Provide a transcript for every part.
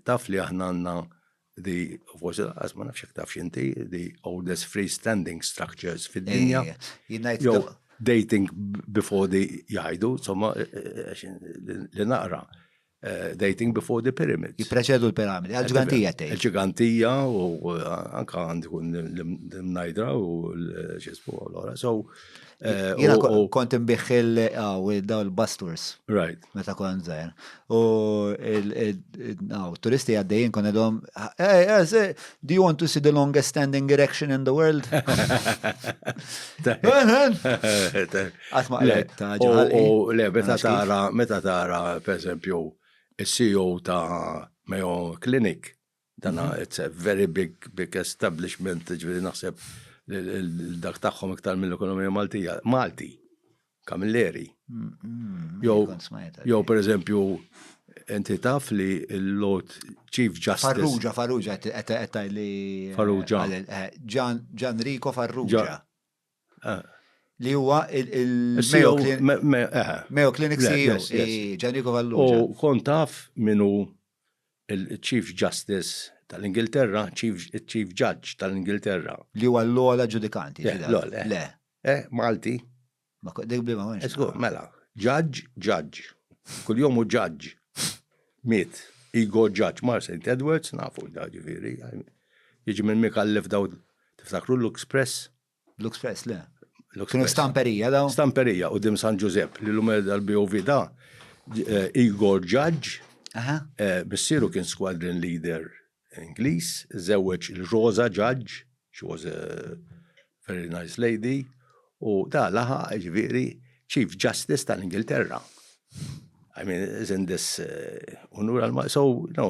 taf li aħna għandna di, forse laqqas ma nafx tafx inti, di oldest freestanding structures fid-dinja. Dating before the jgħidu, insomma, eh, eh, eh, li naqra. Dating before the pyramids. Jipreċedu l-piramidi, għal-ġigantija tgħid. Għal-ġigantija u anka għandikun l-mnajdra u l-ġisbu l-ora. So, Eh, Jena kont imbieħ il-daw il-basturs. Right. Meta kon zaħir. U turisti għaddejjien kon edhom, do you want to see the longest standing erection in the world? Għatma għalek ta' ġaħal. U le, meta tara, meta tara, per esempio, il-CEO ta' Mayo Clinic, Dana it's a very big, big establishment, ġviri naħseb dak tagħhom iktar mill-ekonomija Maltija. Malti, Kamilleri. Jow, per eżempju, inti taf li l-Lord Chief Justice. Farrugia, Farrugia, għettaj li. Farrugia. Ġan eh, Rico Farrugia. Li huwa il-Mayo e Clinic CEO, Gianrico Vallucci. U kont taf min hu il-Chief Justice tal-Ingilterra, il-Chief Judge tal-Ingilterra. Li huwa l-ogħla ġudikanti. Le. Eh, Malti. Ma kont dik b'liema mhux. Żgur, mela. Judge, judge. Kuljum hu judge. Miet. Ego judge. Mar St. Edwards, nafu da ġifieri. Jiġi minn mikallef daw. Tiftakru l-Luxpress? Luxpress, le. Kienu stamperija daw? Stamperija u dim San Ġużepp li l-lum dal-BOV da eh, Igor Ġaġġ, eh, missieru kien squadron leader Ingliż, żewweġ il-Rosa Ġaġġ, she was a very nice lady, U da laħaq, jiġifieri, Chief Justice tal-Ingilterra. I mean, isn't this unur għal So, no,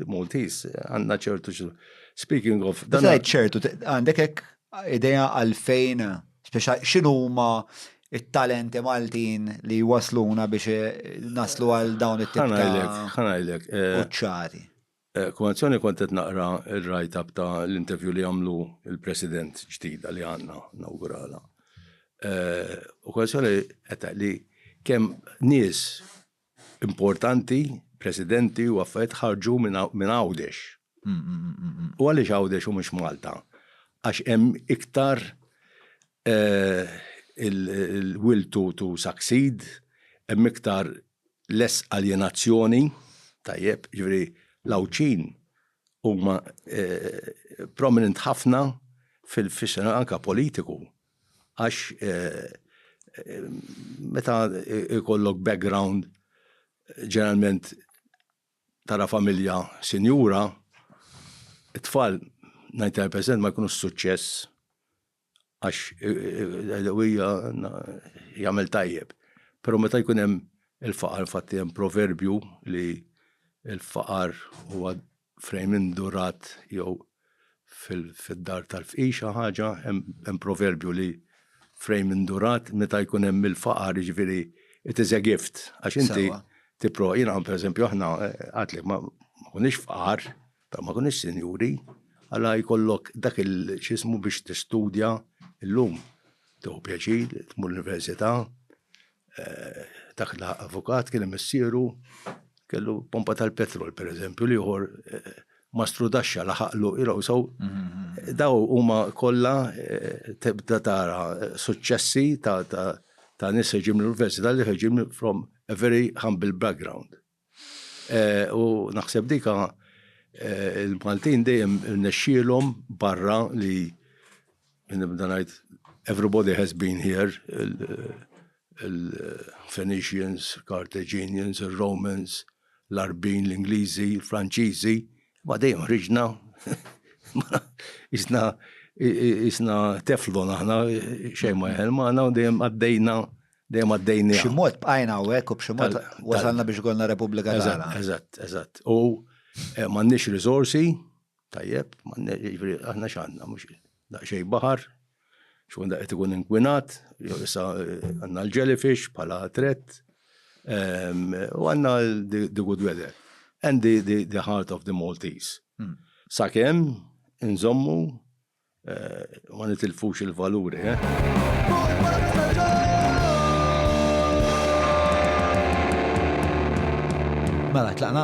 Maltese, għandna ċertu Speaking of. Dan għid ċertu, għandek hekk idea għalfejn, speċa x'inhuma it-talenti Maltin li wasluna biex naslu għal dawn it-tip ta' ċari. Kummazzjoni kont qed naqra r-write up ta' l-interview li għamlu l-President ġdida li għandna nawguralha. Kummazzjoni qed tgħid li kemm nies importanti, Presidenti u affarijiet ħarġu minn Għawdex. U għaliex Għawdex u mhux Malta? Għax hemm iktar il-will to succeed, hemm iktar lest aljenazzjoni, tajjeb, jiġifieri l-Għawdxin huma prominent ħafna fil-xena anke politiku għax meta jkollok background ġeneralment tara familja sinjura, it-tfal, 99%, ma jkunux suċċess għax hija jagħmel tajjeb. Però meta jkun hemm il-faqar, infatti hemm proverbju li l-faqar huwa frejn indurat jew fid-dar tal-fqix ħaġa, hemm proverbju li frejn indurat meta jkun hemm il-faqar, jiġifieri it is a gift għax inti tipprova, jiena pereżempju aħna għidlek ma konniex fqar, Ta' ma kunix sinjuri, għala jkollok dak il x'ismu biex tistudja llum. Tieħu pjaċir, tmur l-università, dak li ħa avukat kien imissieru kellu pompa tal-petrol pereżempju, l-ieħor ma strudaxxa laħaqlu, you know, so daw huma kollha tibda tara suċċessi ta' nies li ġejjin mill-università li ħerġin from a very humble background. U naħseb dika eh, il-Maltin dejjem irnexxielhom barra li nibda ngħid everybody has been here il-Phoenicians, Carthaginians, il-Romans, l-Arbin, l-Ingliżi, l-Franċiżi, ma dejjem ħriġna isna isna teflon aħna xejn ma jħel maħna u dejjem għaddejna Dejjem għaddejniha. B'xi mod bqajna hawnhekk u b'xi mod wasalna biex ikollna Repubblika tagħna. Eżatt, eżatt. U m'għandniex riżorsi, tajjeb, jiġifieri aħna x'għandna mhux daqsxejn baħar, x'kun daqqiet ikun inkwinat, jew issa għandna l-jellyfish bħala threat, u għandna the good weather and the heart of the Maltese. Sakemm inżommu Ma nitilfux il-valuri, eh? Mela, tlaqna?